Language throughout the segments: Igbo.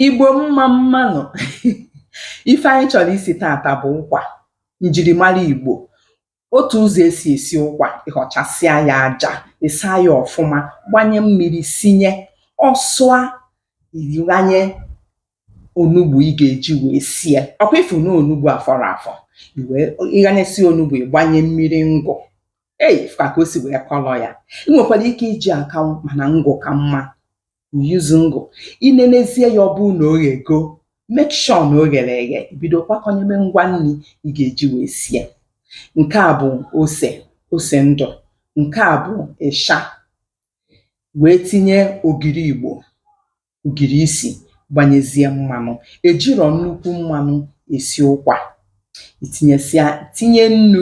Igbo mma mma nụ um ife anyị chọrọ isi taata bụ ụkwa njirimara Igbo otu ụzọ esi esi ụkwa ịhọchasịa ya aja ịsa ya ọfụma gbanye mmiri sinye ọ sụa ị ghanye onugbu ị ga-eji wee sie ọkwa ịfụ na onugbu afọrọ afọ iwee ịghanyesi onugbu ịgbanye mmiri ngụ ei ka o si wee kọlọ ya ị nwekwara ike iji akanwụ mana ngụ ka mma you use ngụ i nenezie ya ọ bụrụ na o ghego make sure na o ghere eghe ị bido kwakọnyebe ngwa nri ị ga-eji wee sie nke a bụ ose ose ndụ nke a bụ isha wee tinye ogiri igbo ogiri isi gbanyezie mmanụ ejirọ nnukwu mmanụ esi ụkwa itinyesịa tinye nnu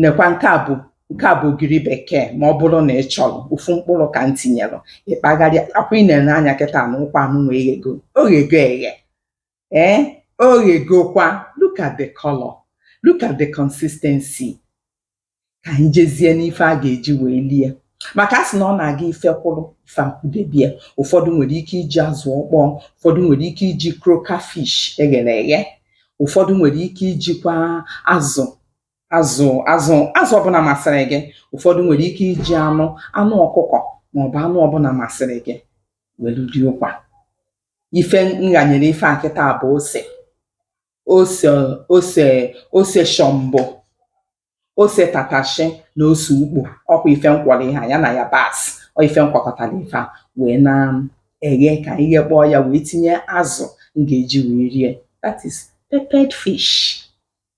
nekwa nke a bụ nke a bụ ogiri bekee ma ọ bụrụ na ị chọrọ ofu mkpụrụ ka m tinyelu ịkpagharịa ọkwa ị na-ene anya kịta na ụkwa anụwa eghego oghego eghe ee oghegokwa look at the color look at the consistency ka anyị jezie n'ife a ga-eji wee lie maka a sị na ọ na-aga ife kwụrụ ife akwụdebe ya ụfọdụ nwere ike iji azụ ọkpọọ ụfọdụ nwere ike iji croaker fish eghere eghe ụfọdụ nwere ike ijikwa azụ azụ azụ azụ ọbụla masịrị gị ụfọdụ nwere ike iji anụ anụ ọkụkọ maọbụ anụ ọbụla masịrị gị welu rie ụkwa ife nghanyere ife a kịta bụ ose ose ose ose shọmbọ ose tatashi na ose ukpo ọkwa ife nkwọrọ ihe a ya na yabasị ọ ife nkwakọtara ife a wee na-eghe ka anyị ghekpọọ ya wee tinye azụ m ga-eji wee rie that is peppered fish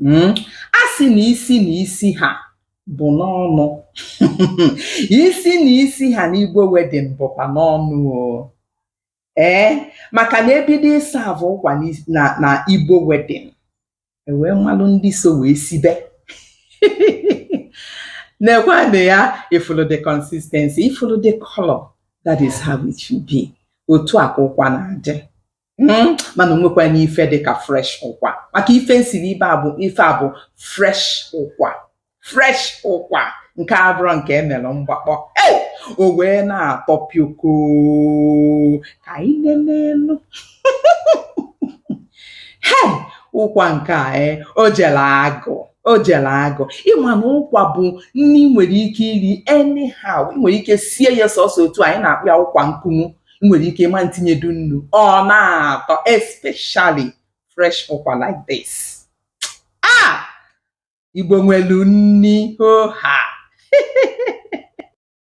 um a sị na isi na isi ha bụ n'ọnụ um isi na isi ha n'Igbo wedding bụkwa n'ọnụ o ee maka na e bido serve ụkwa na na Igbo wedding e wee malụ ndị so wee sibe nekwanụ ya ị fụlụ the consistency ị fụlụ the color that is how it should be otu a ka ụkwa na-adị Hmm, mana onwekwa n'ife dị ka fresh ụkwa maka ife nsiri ebe a bụ ife a bụ fresh ụkwa fresh ụkwa nke abụrọ nke emere mgbakpọ ei o wee na-atọ pioko ka anyị nenenu he ụkwa nke a e o jere agụ o jere agụ ịma na ụkwa bụ nri ị nwere ike iri anyhow ị nwere ike sie ya sọsọ otu anyị na-akpọ ya ụkwa nkumu i nwere ike ịma ntinyedu nnu ọ na-atọ especially fresh ụkwa like this ah igbo nwelu nni hoo haa